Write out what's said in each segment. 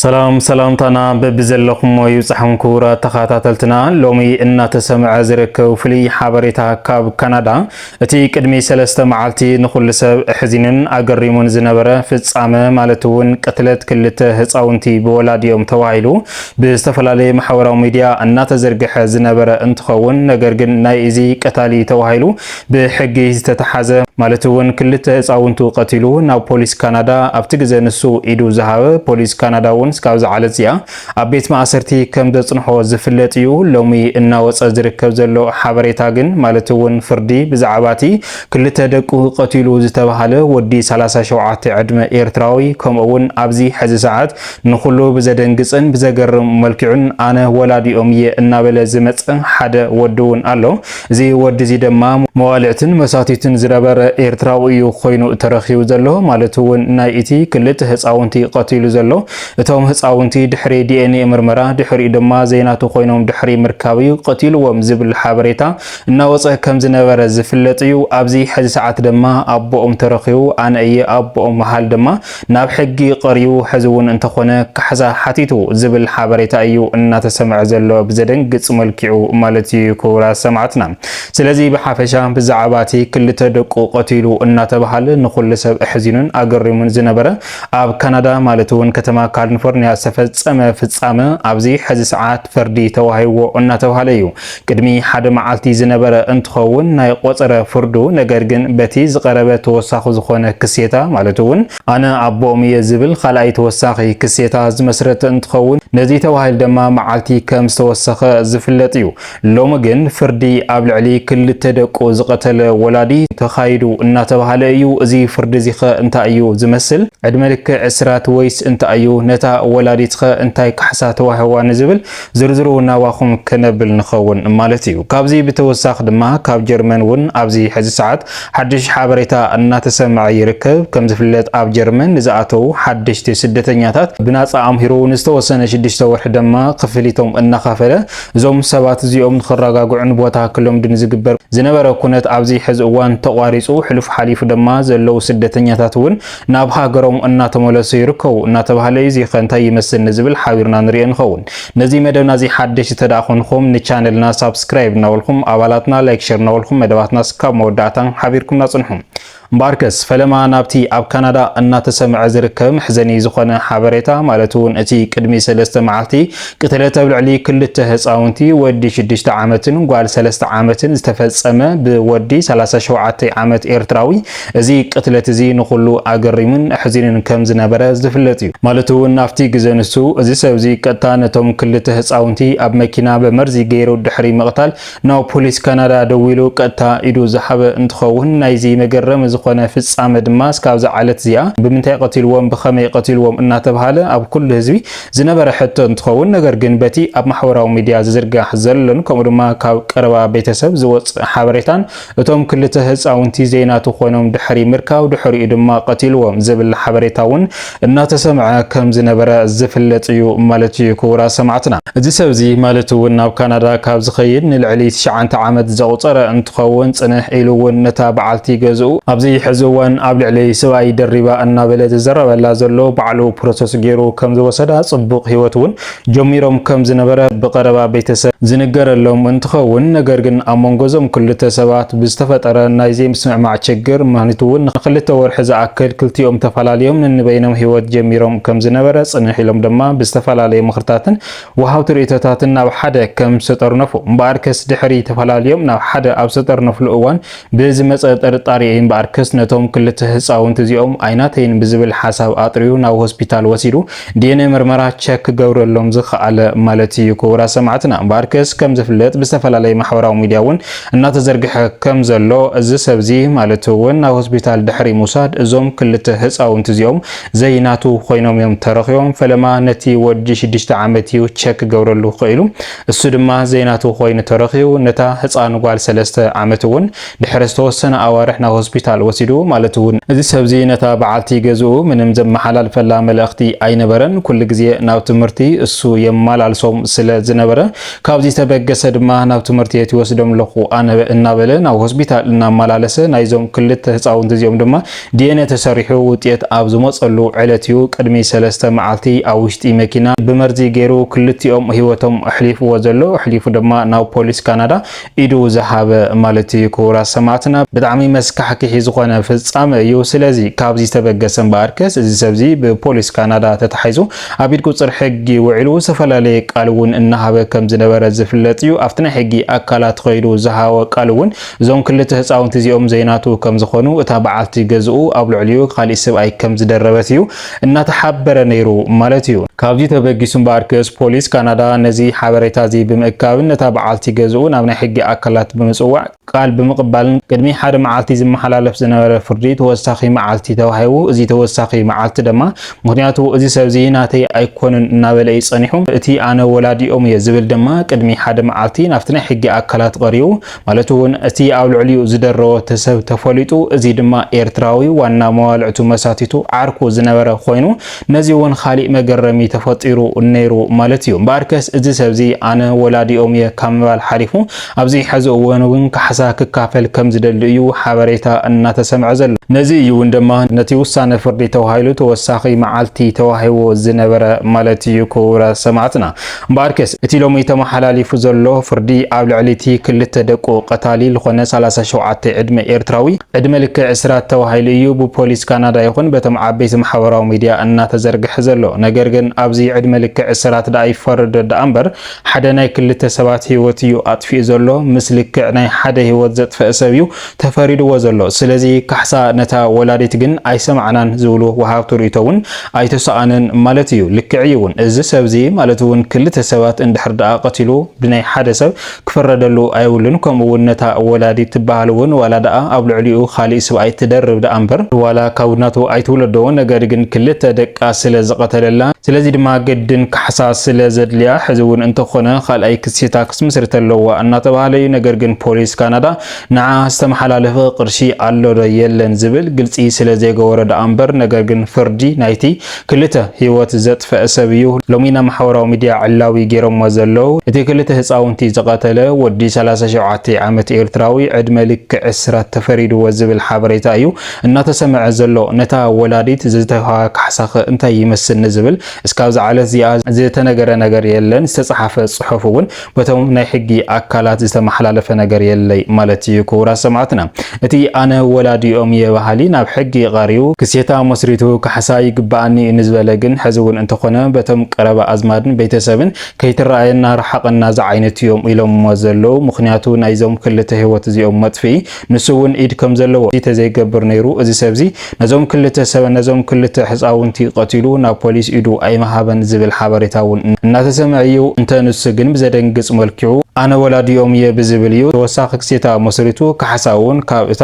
ሰላም ሰላምታና በብዘለኹሞ ይብጻሕኩም ክቡራት ተኸታተልትና። ሎሚ እናተሰምዐ ዝርከብ ፍሉይ ሓበሬታ ካብ ካናዳ እቲ ቅድሚ ሰለስተ መዓልቲ ንኹሉ ሰብ ኣሕዚኑን ኣገሪሙን ዝነበረ ፍጻመ ማለት እውን ቅትለት ክልተ ህፃውንቲ ብወላዲኦም ተባሂሉ ብዝተፈላለየ ማሕበራዊ ሚዲያ እናተዘርግሐ ዝነበረ እንትኸውን ነገር ግን ናይ እዚ ቀታሊ ተባሂሉ ብሕጊ ዝተተሓዘ ማለት እውን ክልተ ህፃውንቱ ቀቲሉ ናብ ፖሊስ ካናዳ ኣብቲ ግዘ ንሱ ኢዱ ዝሃበ ፖሊስ ካናዳ እውን እስካብ ዝዓለት እዚኣ ኣብ ቤት ማእሰርቲ ከም ዘፅንሖ ዝፍለጥ እዩ። ሎሚ እናወፀ ዝርከብ ዘሎ ሓበሬታ ግን ማለት እውን ፍርዲ ብዛዕባ እቲ ክልተ ደቁ ቀቲሉ ዝተባሃለ ወዲ 37 ዕድመ ኤርትራዊ ከምኡ እውን ኣብዚ ሕዚ ሰዓት ንኩሉ ብዘደንግፅን ብዘገርም መልክዑን ኣነ ወላዲኦም እየ እናበለ ዝመፀ ሓደ ወዲ እውን ኣሎ። እዚ ወዲ እዚ ደማ መዋልዕትን መሳትይትን ዝነበረ ኤርትራዊ እዩ ኮይኑ ተረኪቡ ዘሎ ማለት እውን ናይ እቲ ክልተ ህጻውንቲ ቀቲሉ ዘሎ እቶም ህጻውንቲ ድሕሪ ዲኤንኤ ምርመራ ድሕሪኡ ድማ ዘይናቱ ኮይኖም ድሕሪ ምርካብ እዩ ቀቲልዎም ዝብል ሓበሬታ እናወጸ ከም ዝነበረ ዝፍለጥ እዩ ኣብዚ ሕዚ ሰዓት ድማ ኣቦኦም ተረኪቡ ኣነ እየ ኣቦኦም መሃል ድማ ናብ ሕጊ ቀሪቡ ሕዚ እውን እንተኾነ ካሕሳ ሓቲቱ ዝብል ሓበሬታ እዩ እናተሰምዐ ዘሎ ብዘደንግፅ መልኪዑ ማለት እዩ ክቡራት ሰማዕትና ስለዚ ብሓፈሻ ብዛዕባ እቲ ክልተ ደቁ ቀቲሉ እናተብሃለ ንኹሉ ሰብ እሕዚኑን ኣገሪሙን ዝነበረ ኣብ ካናዳ ማለት እውን ከተማ ካልንፎርኒያ ዝተፈፀመ ፍፃመ ኣብዚ ሕዚ ሰዓት ፍርዲ ተዋሂዎ እናተብሃለ እዩ ቅድሚ ሓደ መዓልቲ ዝነበረ እንትኸውን ናይ ቆፀረ ፍርዱ ነገር ግን በቲ ዝቀረበ ተወሳኹ ዝኾነ ክሴታ ማለት እውን ኣነ ኣቦኦም እየ ዝብል ኻልኣይ ተወሳኺ ክሴታ ዝመስረተ እንትኸውን ነዚ ተባሂል ደማ መዓልቲ ከም ዝተወሰኸ ዝፍለጥ እዩ። ሎሚ ግን ፍርዲ ኣብ ልዕሊ ክልተ ደቁ ዝቐተለ ወላዲ ተኻይዱ እናተባሃለ እዩ። እዚ ፍርዲ እዚኸ እንታይ እዩ ዝመስል? ዕድመ ልክዕ እስራት ወይስ እንታይ እዩ? ነታ ወላዲትኸ እንታይ ካሕሳ ተዋሂዋ ንዝብል ዝርዝሩ ናባኹም ክነብል ንኸውን ማለት እዩ። ካብዚ ብተወሳኺ ድማ ካብ ጀርመን እውን ኣብዚ ሕዚ ሰዓት ሓድሽ ሓበሬታ እናተሰምዐ ይርከብ። ከምዝፍለጥ ኣብ ጀርመን ንዝኣተዉ ሓደሽቲ ስደተኛታት ብናፃ ኣምሂሩ ንዝተወሰነ ሽዱሽተ ወርሒ ደማ ክፍሊቶም እናኸፈለ እዞም ሰባት እዚኦም ንክረጋግዑን ቦታ ክለምዱን ዝግበር ዝነበረ ኩነት ኣብዚ ሕዚ እዋን ተቋሪፁ ሕሉፍ ሓሊፉ ደማ ዘለዉ ስደተኛታት እውን ናብ ሃገሮም እናተመለሱ ይርከቡ እናተባህለ እዩ እዚኸ እንታይ ይመስል ንዝብል ሓቢርና ንሪኦ ንኸውን ነዚ መደብና እዚ ሓደሽ እንተደኣ ኮንኹም ንቻነልና ሳብስክራይብ እናበልኩም ኣባላትና ላይክ ሸር እናበልኩም መደባትና ስካብ መወዳእታ ሓቢርኩምና ጽንሑ እምበኣርከስ ፈለማ ናብቲ ኣብ ካናዳ እናተሰምዐ ዝርከብ መሕዘኒ ዝኾነ ሓበሬታ ማለት እውን እቲ ቅድሚ ሰለስተ መዓልቲ ቅትለት ኣብ ልዕሊ ክልተ ህፃውንቲ ወዲ ሽዱሽተ ዓመትን ጓል ሰለስተ ዓመትን ዝተፈጸመ ብወዲ 37 ዓመት ኤርትራዊ እዚ ቅትለት እዚ ንኹሉ ኣገሪሙን ኣሕዚኑን ከም ዝነበረ ዝፍለጥ እዩ። ማለት እውን ኣብቲ ግዘ ንሱ፣ እዚ ሰብዚ ቀጥታ ነቶም ክልተ ህፃውንቲ ኣብ መኪና ብመርዚ ገይሩ ድሕሪ ምቕታል ናብ ፖሊስ ካናዳ ደዊሉ ቀጥታ ኢዱ ዝሃበ እንትኸውን ናይዚ መገረሚ ዝኾነ ፍፃመ ድማ እስካብዛ ዓለት እዚኣ ብምንታይ ቐቲልዎም ብኸመይ ቐቲልዎም እናተብሃለ ኣብ ኩሉ ህዝቢ ዝነበረ ሕቶ እንትኸውን ነገር ግን በቲ ኣብ ማሕበራዊ ሚድያ ዝዝርጋሕ ዘሎን ከምኡ ድማ ካብ ቀረባ ቤተሰብ ዝወፅእ ሓበሬታን እቶም ክልተ ህፃውንቲ ዘይናቱ ኮይኖም ድሕሪ ምርካብ ድሕሪኡ ድማ ቀቲልዎም ዝብል ሓበሬታ እውን እናተሰምዐ ከም ዝነበረ ዝፍለጥ እዩ ማለት እዩ ክቡራት ሰማዕትና። እዚ ሰብ እዚ ማለት እውን ናብ ካናዳ ካብ ዝኸይድ ንልዕሊ ትሽዓንተ ዓመት ዘቑፀረ እንትኸውን ፅንሕ ኢሉ እውን ነታ በዓልቲ ገዝኡ ኣብዚ ሕዚ እዋን ኣብ ልዕሊ ስብኣይ ደሪባ እናበለ ዝዘረበላ ዘሎ ባዕሉ ፕሮሰስ ገይሩ ከም ዝወሰዳ ፅቡቕ ህይወት እውን ጀሚሮም ከም ዝነበረ ብቐረባ ቤተሰብ ዝንገረሎም እንትኸውን፣ ነገር ግን ኣብ መንጎ እዞም ክልተ ሰባት ብዝተፈጠረ ናይ ዘይምስምዕማዕ ችግር ምኽኒቱ እውን ንክልተ ወርሒ ዝኣክል ክልቲኦም ተፈላሊዮም ነንበይኖም ህይወት ጀሚሮም ከም ዝነበረ ፅንሕ ኢሎም ድማ ብዝተፈላለየ ምኽርታትን ወሃብቲ ርእይቶታትን ናብ ሓደ ከም ዝተጠርነፉ እምበኣርከስ ድሕሪ ተፈላሊዮም ናብ ሓደ ኣብ ዝተጠርነፍሉ እዋን ብዝመጸ ጥርጣሬ እምበኣር ክስ ነቶም ክልተ ህጻውንቲ እዚኦም ኣይናተይን ብዝብል ሓሳብ ኣጥርዩ ናብ ሆስፒታል ወሲዱ ዲኤንኤ ምርመራ ቸክ ክገብረሎም ዝኸኣለ ማለት እዩ። ክቡራት ሰማዕትና እምበኣር ክስ ከም ዝፍለጥ ብዝተፈላለየ ማሕበራዊ ሚድያ እውን እናተዘርግሐ ከም ዘሎ እዚ ሰብ እዚ ማለት እውን ናብ ሆስፒታል ድሕሪ ምውሳድ እዞም ክልተ ህጻውንቲ እዚኦም ዘይናቱ ኮይኖም እዮም ተረኺቦም። ፈለማ ነቲ ወዲ ሽዱሽተ ዓመት እዩ ቸክ ክገብረሉ ክኢሉ። እሱ ድማ ዘይናቱ ኮይኑ ተረኺቡ ነታ ህጻን ጓል ሰለስተ ዓመት እውን ድሕሪ ዝተወሰነ ኣዋርሕ ናብ ሆስፒታል ወሲዱ ማለት እውን እዚ ሰብዚ ነታ በዓልቲ ገዝኡ ምንም ዘመሓላልፈላ መልእኽቲ ኣይነበረን ኩሉ ግዜ ናብ ትምህርቲ እሱ የመላልሶም ስለ ዝነበረ ካብዚ ዝተበገሰ ድማ ናብ ትምህርቲ የት ይወስዶም ኣለኹ ኣነ እናበለ ናብ ሆስፒታል እናመላለሰ ናይዞም ክልተ ህጻውንቲ እዚኦም ድማ ዲኤንኤ ተሰሪሑ ውጤት ኣብ ዝመጸሉ ዕለት እዩ ቅድሚ ሰለስተ መዓልቲ ኣብ ውሽጢ መኪና ብመርዚ ገይሩ ክልቲኦም ህይወቶም ኣሕሊፍዎ ዘሎ ኣሕሊፉ ድማ ናብ ፖሊስ ካናዳ ኢዱ ዝሃበ ማለት እዩ ክቡራት ሰማዕትና ብጣዕሚ መስካሕኪሒ ዝኾነ ፍጻመ እዩ ስለዚ ካብዚ ዝተበገሰ እምበኣርከስ እዚ ሰብዚ ብፖሊስ ካናዳ ተታሒዙ ኣብ ኢድ ቁጽር ሕጊ ውዒሉ ዝተፈላለየ ቃል እውን እናሃበ ከም ዝነበረ ዝፍለጥ እዩ ኣብቲ ናይ ሕጊ ኣካላት ኸይዱ ዝሃቦ ቃል እውን እዞም ክልተ ህጻውንቲ እዚኦም ዘይናቱ ከም ዝኾኑ እታ በዓልቲ ገዝኡ ኣብ ልዕሊኡ ካሊእ ስብኣይ ከም ዝደረበት እዩ እናተሓበረ ነይሩ ማለት እዩ። ካብዚ ተበጊሱ እምበኣር ክስ ፖሊስ ካናዳ ነዚ ሓበሬታ እዚ ብምእካብን ነታ በዓልቲ ገዝኡ ናብ ናይ ሕጊ ኣካላት ብምጽዋዕ ቃል ብምቕባልን ቅድሚ ሓደ መዓልቲ ዝመሓላለፍ ዝነበረ ፍርዲ ተወሳኺ መዓልቲ ተዋሂቡ። እዚ ተወሳኺ መዓልቲ ደማ ምኽንያቱ እዚ ሰብ እዚ ናተይ ኣይኮነን እናበለ እዩ ጸኒሑ። እቲ ኣነ ወላዲኦም እየ ዝብል ደማ ቅድሚ ሓደ መዓልቲ ናብቲ ናይ ሕጊ ኣካላት ቐሪቡ ማለት እውን እቲ ኣብ ልዕሊኡ ዝደረወ እቲ ሰብ ተፈሊጡ፣ እዚ ድማ ኤርትራዊ ዋና መባልዕቱ መሳቲቱ ዓርኩ ዝነበረ ኮይኑ፣ ነዚ እውን ኻሊእ መገረሚ ተፈጢሩ ነይሩ ማለት እዩ። እምበኣርከስ እዚ ሰብዚ ኣነ ወላዲኦም እየ ካብ ምባል ሓሊፉ ኣብዚ ሕዚ እዋን እውን ካሕሳ ክካፈል ከም ዝደሊ እዩ ሓበሬታ እናተሰምዐ ዘሎ። ነዚ እዩ እውን ድማ ነቲ ውሳነ ፍርዲ ተባሂሉ ተወሳኺ መዓልቲ ተዋሂቡ ዝነበረ ማለት እዩ። ክቡራት ሰማዕትና! እምበኣርከስ እቲ ሎሚ ተመሓላሊፉ ዘሎ ፍርዲ ኣብ ልዕሊ'ቲ ክልተ ደቁ ቀታሊ ልኾነ ሰላሳ ሸውዓተ ዕድመ ኤርትራዊ ዕድመ ልክዕ እስራት ተባሂሉ እዩ ብፖሊስ ካናዳ ይኹን በቶም ዓበይቲ ማሕበራዊ ሚድያ እናተዘርግሐ ዘሎ። ነገር ግን ኣብዚ ዕድመ ልክዕ እስራት ደኣ ይፈረዶ ደኣምበር ሓደ ናይ ክልተ ሰባት ህይወት እዩ ኣጥፊኡ ዘሎ ምስ ልክዕ ናይ ሓደ ህይወት ዘጥፈእ ሰብ እዩ ተፈሪድዎ ዘሎ። ስለዚ ካሕሳ ነታ ወላዲት ግን ኣይሰማዕናን ዝብሉ ወሃብቲ ርእይቶ እውን ኣይተሰኣነን ማለት እዩ። ልክዕ እዩ እውን። እዚ ሰብዚ ማለት እውን ክልተ ሰባት እንድሕር ደኣ ቀቲሉ ብናይ ሓደ ሰብ ክፍረደሉ ኣይብሉን። ከምኡ እውን ነታ ወላዲት ትበሃል እውን ዋላ ደኣ ኣብ ልዕሊኡ ካሊእ ስብኣይ ትደርብ ደኣ እምበር፣ ዋላ ካብ ናቱ ኣይትውለዶ፣ ነገር ግን ክልተ ደቃ ስለ ዝቐተለላ፣ ስለዚ ድማ ግድን ካሕሳ ስለ ዘድልያ፣ ሕዚ እውን እንተኾነ ካልኣይ ክሲታ ክትምስርት ኣለዋ እናተበሃለ እዩ። ነገር ግን ፖሊስ ካናዳ ንዓ ዝተመሓላለፈ ቅርሺ ኣሎ ዶ የለን ዝብል ግልጺ ስለ ዘይገበሮ ደኣ እምበር ነገር ግን ፍርዲ ናይቲ ክልተ ሂወት ዘጥፈኣ ሰብ እዩ ሎሚ ናብ ማሕበራዊ ሚድያ ዕላዊ ጌሮሞ ዘለዉ እቲ ክልተ ህጻውንቲ ዝቀተለ ወዲ ሰላሳ ሸውዓተ ዓመት ኤርትራዊ ዕድመ ልክዕ እስራት ተፈሪድዎ ዝብል ሓበሬታ እዩ እናተሰመዐ ዘሎ ነታ ወላዲት ዝተውሃባ ካሕሳኸ እንታይ ይመስል ንዝብል እስካብዛ ዕለት እዚኣ ዝተነገረ ነገር የለን ዝተጻሓፈ ጽሑፍ ውን በቶም ናይ ሕጊ ኣካላት ዝተመሓላለፈ ነገር የለይ ማለት እዩ ክቡራት ሰማዕትና እቲ ኣነ ወላዲኦም እየ በሃሊ ናብ ሕጊ ቐሪቡ ክሴታ መስሪቱ ካሕሳ ይግበኣኒ እዩ ንዝበለ ግን ሕዚ እውን እንተኾነ በቶም ቀረባ ኣዝማድን ቤተሰብን ከይትረኣየና ርሓቐና ዝዓይነቱ እዮም ኢሎምዎ ዘለዉ ምኽንያቱ ናይዞም ክልተ ህይወት እዚኦም መጥፍኢ ንሱ እውን ኢድ ከም ዘለዎ እዚ ተዘይገብር ነይሩ እዚ ሰብዚ ነዞም ክልተ ሰበ ነዞም ክልተ ሕጻውንቲ ቀቲሉ ናብ ፖሊስ ኢዱ ኣይምሃበን ዝብል ሓበሬታ እውን እናተሰምዐ እዩ እንተ ንሱ ግን ብዘደንግጽ መልክዑ ኣነ ወላዲኦም እየ ብዝብል እዩ ተወሳኺ ክሴታ መስሪቱ ካሕሳ እውን ካብ እታ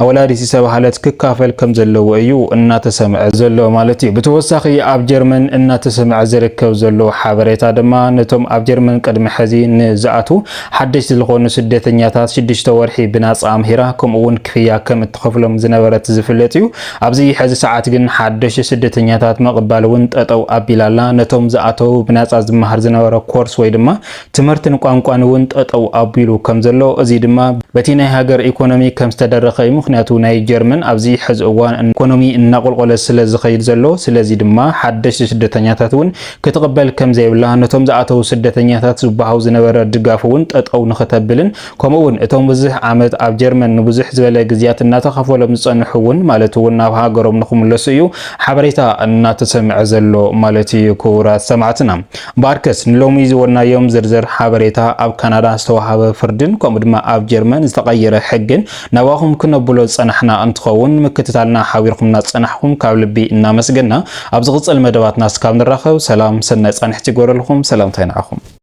ወላዲት ዝተባህለት ክካፈል ከም ዘለዎ እዩ እናተሰምዐ ዘሎ ማለት እዩ ብተወሳኺ ኣብ ጀርመን እናተሰምዐ ዝርከብ ዘሎ ሓበሬታ ድማ ነቶም ኣብ ጀርመን ቅድሚ ሕዚ ንዝኣትዉ ሓደሽቲ ዝኾኑ ስደተኛታት ሽዱሽተ ወርሒ ብናጻ ኣምሂራ ከምኡ እውን ክፍያ ከም እትኸፍሎም ዝነበረት ዝፍለጥ እዩ። ኣብዚ ሕዚ ሰዓት ግን ሓደሽቲ ስደተኛታት ምቕባል እውን ጠጠው ኣቢላ ኣላ። ነቶም ዝኣተዉ ብናጻ ዝመሃር ዝነበረ ኮርስ ወይ ድማ ትምህርትን ቋንቋን እውን ጠጠው ኣቢሉ ከም ዘሎ እዚ ድማ በቲ ናይ ሃገር ኢኮኖሚ ከም ዝተደረኸ እዩ። ምኽንያቱ ናይ ጀርመን ኣብዚ ሕዚ እዋን ኢኮኖሚ እናቆልቆለ ስለ ዝኸይድ ዘሎ ስለዚ ድማ ሓደሽቲ ስደተኛታት እውን ክትቕበል ከምዘይብላ፣ ነቶም ዝኣተዉ ስደተኛታት ዝወሃው ዝነበረ ድጋፍ እውን ጠጠው ንክተብልን ከምኡ እውን እቶም ብዝሕ ዓመት ኣብ ጀርመን ንብዙሕ ዝበለ ግዝያት እናተኸፈሎም ዝፀንሑ እውን ማለት እውን ናብ ሃገሮም ንክምለሱ እዩ ሓበሬታ እናተሰምዐ ዘሎ ማለት እዩ። ክቡራት ሰማዕትና እምበኣርከስ ንሎሚ ዝወናዮም ዝርዝር ሓበሬታ ኣብ ካናዳ ዝተወሃበ ፍርድን ከምኡ ድማ ኣብ ጀርመን ዝተቐየረ ሕግን ናባኹም ክነብሎ ዝጸናሕና እንትኸውን ምክትታልና ሓቢርኹምና ዝጸናሕኹም ካብ ልቢ እናመስገና ኣብ ዝቕጽል መደባትና እስካብ ንራኸብ ሰላም ሰናይ ጻንሒት ይግበረልኹም ሰላምታይ ንዓኹም።